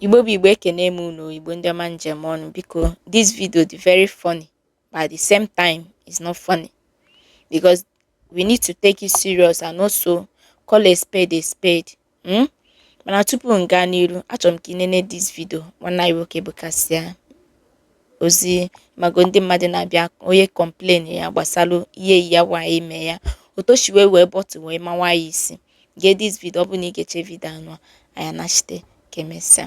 Igbo bụ Igbo ekene m unu Igbo ndị ọma m ji eme ọnụ biko this video dị very funny but at the same time it's not funny because we need to take it serious and also call a spade a spade Hmm? Mana tupu m gaa n'iru, achọrọ m ka ị nene this video nwanne anyị nwoke bụ Kasie ozi mago ndị mmadụ na-abịa onye complain ya gbasara ihe nwaanyị mere ya otu o shi were bottle wee mawa ya isi gee this video ọ bụrụ na ị gechaa video anụwa anyị anachite ka emesịa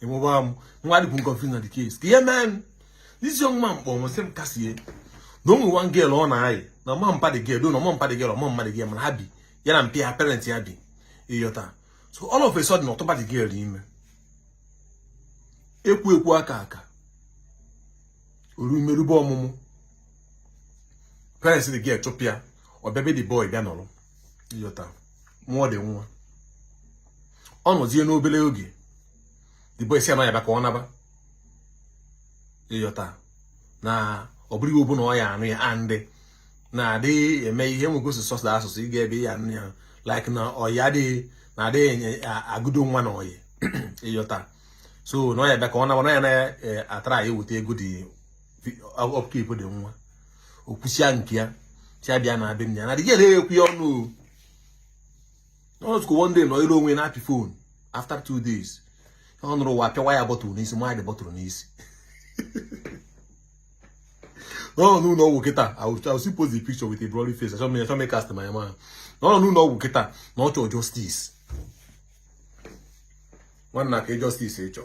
even mụnwa dịkwu confused na the case ka ihe mee m this young man kpọrọ m sị m Kasie na o nwere one girl ọ na-ayị na ọ mahọ mpa the girl na ọ mahọ mpa the girl ọ mahọ mma the girl mana ha bi ya na mpa ya parent ya bi ịghọta so all of a sudden ọ tụba the girl ime ekwu ekwu aka aka o ruo ime erube ọmụmụ parents the girl chụpụ ya ọ bịa be the boy bịa nọrọ ịghọta mụọ the nwa ọ nọzie n'obere oge the boy sị ya na ọ ya-abụ ka ọ naba ịghọta na ọ bụrụ ihe ọbụla ọ ya-anụ ya andị na-adị eme ihe nwoke si sọsda asụsụ ịga ebe ya anụ ya like na ọya adịghị na adịghị enye agụdo nwa na ọyị ịghọta so na ọ ya-abụ ka ọ naba na ya na-atry iweta ego the upkeep the nwa o kwusịa nke a sị ya bịa naba be nna ya na the girl ekwu ya ọnụ ọ nọtụkwu one day nọọrọ onwe ya na-apị phone after two days ọ nụrụ wa pịawa ya bottle n'isi mawa ya the bottle n'isi na ọ nọ n'ụlọ ọgwụ kịta I still post the picture with a bloody face achọ m achọ m cast my man na ọ nọ n'ụlọ ọgwụ kịta na ọ chọọ justice nwanna kee justice ị chọ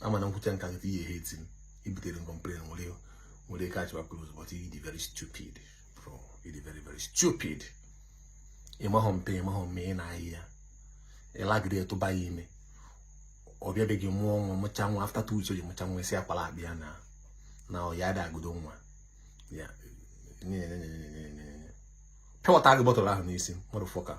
ama m na m kwuchaa nka gị ehate m i butere m complain nwere nwere ike achịba close but you dey very stupid bro you dey very very stupid ịmahọ mpa ya ịmahọ mma ya ị na-ayị ya ịlagide tụba ya ime ọ bịa be gị mụọ nwa mụcha nwa after two weeks o ji mụcha nwa ị sị ya kwalụ bịa naa na ọ ya ada agodo nwa ya pịawata gị bottle ahụ n'isi motherfucker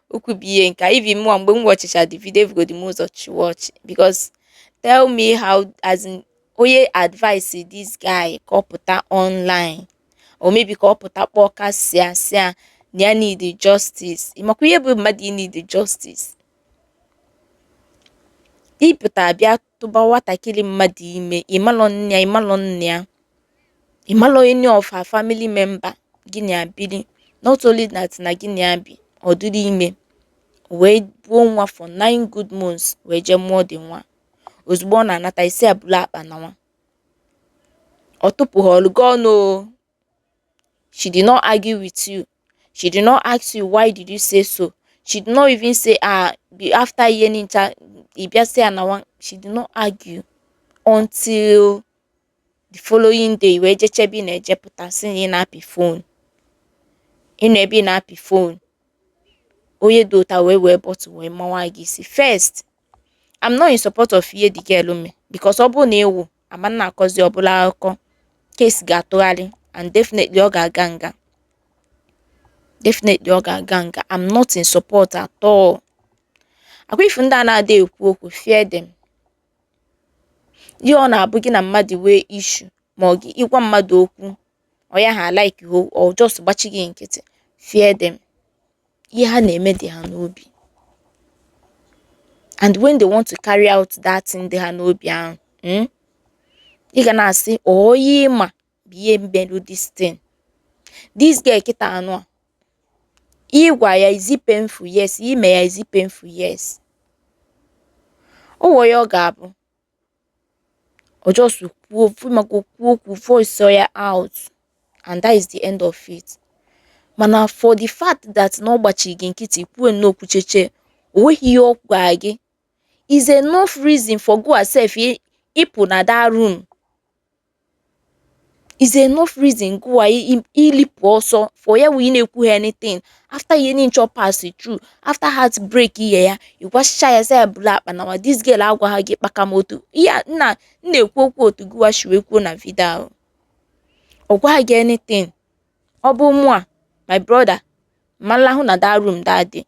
Okwu bụ ihe nka. Even mụnwa mgbe m watchicha the video ebugodu m ụzọ chịwa ọchị because tell me how as in onye advice this guy ka ọ pụta online or maybe ka ọ pụta kpọọ Kasie sị ya na ya need justice ịmakwa ihe bụ mmadụ ị need justice ịpụta bịa tụba nwatakịrị mmadụ ime ịmalọ nne ya ịmalọ nna ya ịmalọ any of her family member gị na ya biri not only that na gị na ya bi ọ dịrị ime wee buo nwa for nine good months wee jee mụọ the nwa ozugbo ọ na-anata ị sị ya bulu akpa na nwa ọ tupụhọlụ gị ọnụ o She did not argue with you. She did not ask you why did you say so. She did not even say ah after ihe nincha ị bịa sị ya na nwa she did not argue until the following day wee jeche ebe ị na-eje pụta si na ị na-apị phone ị nọ ebe ị na-apị phone onye dọta wee wee bottle wee mawa gị isi first I'm not in support of ihe the girl me because ọ bụrụ na ị nwụọ a ma na-akọzi ọ bụlụ akụkọ case ga-atụgharị and definitely ọ ga-aga nga definitely ọ ga-aga nga I'm not in support at all akwa ị fụ ndị a na-adị ekwu okwu fear them ihe ọ na-abụ gị na mmadụ nwee issue ma ọ gị ị gwa mmadụ okwu onye ahụ like ọ just gbachi gị nkịtị fear them ihe ha na-eme dị ha n'obi and when they want to carry out that thing dị ha n'obi ahụ hmm, ị ga na-asị onye ma bụ ihe melu this thing this girl kịta anụ a ị gwa ya is it painful yes i me ya is it painful yes o nwere ihe ọ ga-abụ ọ just kwuo ma ka kwuo okwu voice ya out and that is the end of it mana for the fact that na ọ gbachi gị nkịtị kwuo nnọọ kwucheche o nweghị ihe ọ gwa gị is enough reason for gụwa self ịpụ na that room is enough reason gụwa ilipụ ọsọ for ya wee na-ekwuha anything after ihe nincha ọ pass through after heartbreak ihe a ị gwachicha ya sị ya bulu akpa nawa this girl agwaha gị kpaka moto ihe a m na-ekwu okwu otu gụwa shi wee kwuo na video ahụ ọ gwaghị gị anything ọ bụ mụwa my brother m ma-alahụ na that room that day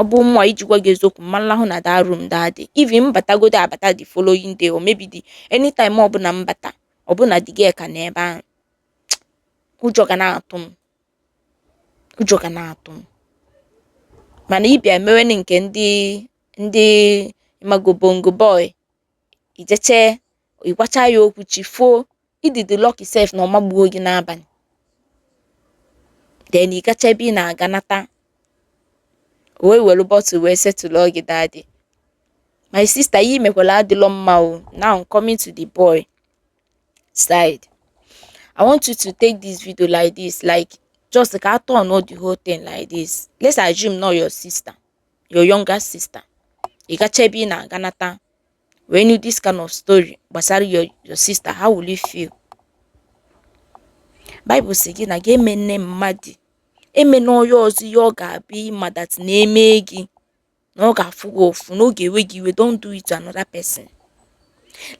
ọ bụ mụwa iji gwa gị eziokwu m ma-alahụ na that room that day even m batagodu abata the following day or maybe the anytime ọbụla m bata ọ bụ na the girl ka nọ ebe ahụ ụjọ ga na-atụ m mana ị bịa mewene nke ndị ị mago bongo boy i jeche ị gwacha ya okwu chi foo ị dị lucky sef na ọ magbuo gị n'abalị then ị gacha ebe ị na-aga nata o wee were bottle wee settle gị that day my sister ihe i mekwala adịlọ mma o now I'm coming to the boy side I want you to take this video like this like just ka a turn the whole thing like this let's assume na ọ your sister your younger sister ị gacha ebe ị na-aga nata wee nụ this kind of story gbasara your sister how will you feel Bible sị gị na gị emena mmadụ emena onye ọzọ ihe ọ ga-abụ ị ma that na e mee gị na ọ ga-afụ gị ụfụ na ọ ga-ewe gị iwe don't do it to another person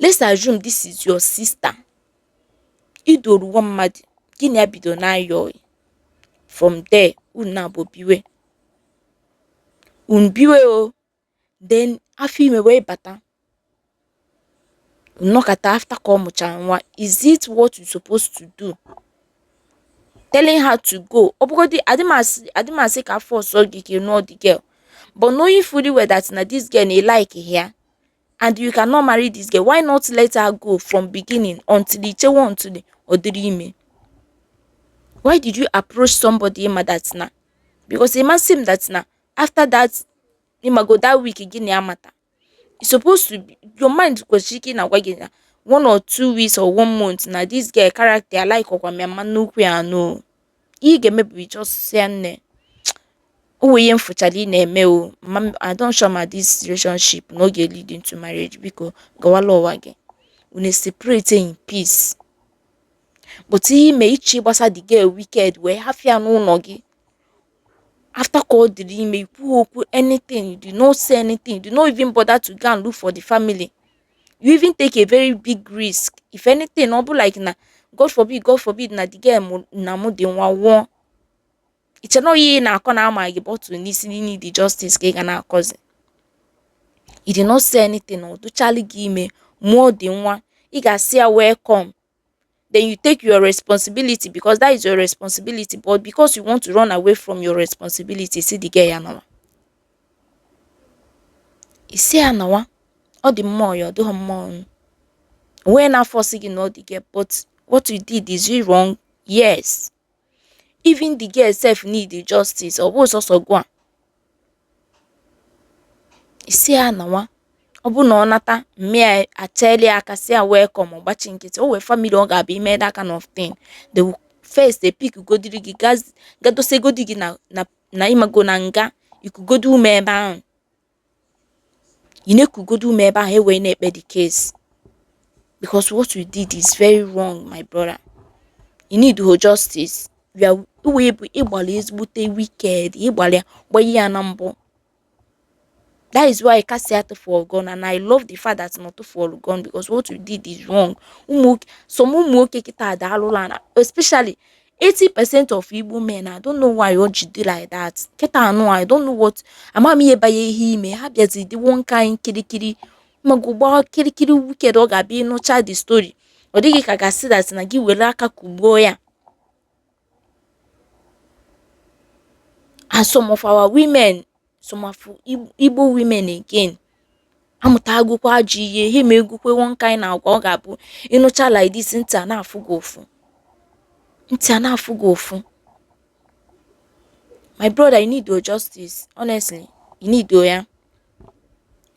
let's assume this is your sister i duru nwa mmadụ gị na ya bido na-ayị from there unu naabọ biwe unu biwe o then afọ ime wee bata unu nọkata after ka ọ mụchara nwa is it what you supposed to do telling her to go ọ bụgodị adị m asị ka a force gị ka ị nụọ the girl but knowing fully well that na this girl na ị likeghị ya and you cannot marry this girl why not let her go from beginning until i chewe until ọ dịrị ime why did you approach somebody ị ma that na because it must seem that na after that ị mago that week gị na ya mata it's supposed to be your mind kwesịrị ike na-agwa gị na one or two weeks or one month na this girl character like ọkwa m ya m ma nụkwa ya no ihe ị ga-eme bụ just sị ya nne o nwere ihe m fụchara ị na-eme o mama m I don't sure ma this relationship na ọ ga-lead into marriage biko gawala ụwa gị unu separate in peace but ihe i me i chi gbasa the girl wicked wee hafụ ya n'ụnọ gị after ka ọ dịrị ime i kwuọkwa anything you do not say anything you do not even bother to go and look for the family you even take a very big risk if anything ọ bụ like na god forbid god forbid na the girl mụ- na-amụ the nwa nwụọ i che na ọ ihe ị na-akọ na a maa gị bottle n'isi need the justice ka ị ga na-akọzi you did not say anything ọ dịchalụ gị ime mụọ the nwa ị ga-asị ya welcome then you take your responsibility because that is your responsibility but because you want to run away from your responsibility ị sị the girl ya nawa ị sị ya nawa ọ dị mma ya ọ dị mma o nweghị onye na-aforce gị nụọ the girl but what you did is wrong yes even the girl sef need the justice ọ bụghị sọsọ gịwa ị sị ya nawa ọ bụ na ọ nata mma ya achịlị aka sị ya welcome ọ gbachi nkịtị o nwe family ọ ga-abụ i mee that kind of thing e first e pickgodiri gị ga dosegodi gị na na na ị mago na nga i kugodo ume ebe ahụ ị na-ekugodo ume ebe ahụ e wee na-ekpe the case because what you did is very wrong my brother ị needhọ justice ya wee bụ ị gbalị ezigbote wicked ị gbalị gbanye ya na mbụ that is why ka sị a tụfuo gị ọnụ and I love the fact that na a tụfuo gị ọnụ because what you did is wrong ụmụ some ụmụ nwoke kịta ada alụla na especially 80% of Igbo men, I don't know why o ji dị like that. Kịta nụ I don't know what ama m ihe banye ha ime ha bịazi dị one kind kirikiri mago gbaa kirikiri wicked ọ ga-abụ ị nụcha the story ọ dị gị ka ị ga-asị that na gị were aka kugbuo ya and some of our women some of Igbo women again amụtagokwa ajọ ihe ha emegokwa one kind agwa ọ ga-abụ ị nụcha like this ntị a na-afụ gị ụfụ ntị a na-afụ gị ụfụ my brother you need your justice honestly you need ya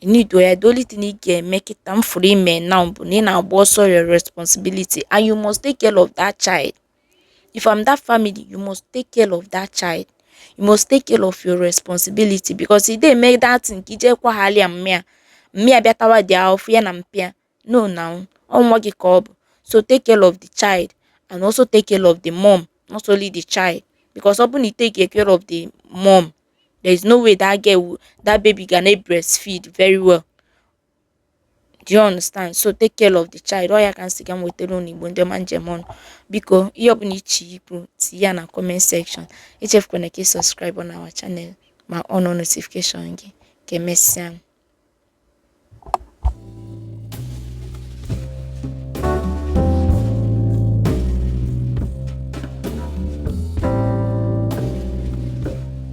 you need ya the only thing ị ga-eme kịta m fụrụ i me now bụ na ị na-agba ọsọ your responsibility and you must take care of that child if I'm that family you must take care of that child you must take care of your responsibility because ị dey make that thing ka i ji kwaghalị ya mmịa mmịa bịa tawa dị ahụfụ ya na mpịa no na nwa gị ka ọ bụ so take care of the child and also take care of the mom not only the child because ọ bụ na ị take care of the mom there is no way that girl that baby ga na breastfeed very well do you understand so take care of the child ọ ya ka m sị ka m wetara unu igbo ndị ọma m ji eme ọnụ biko ihe ọbụla ị chọ ikwu tinye ya na comment section echefukwana ka ị subscribe on our channel ma on-ụọ notification gị ka emesịa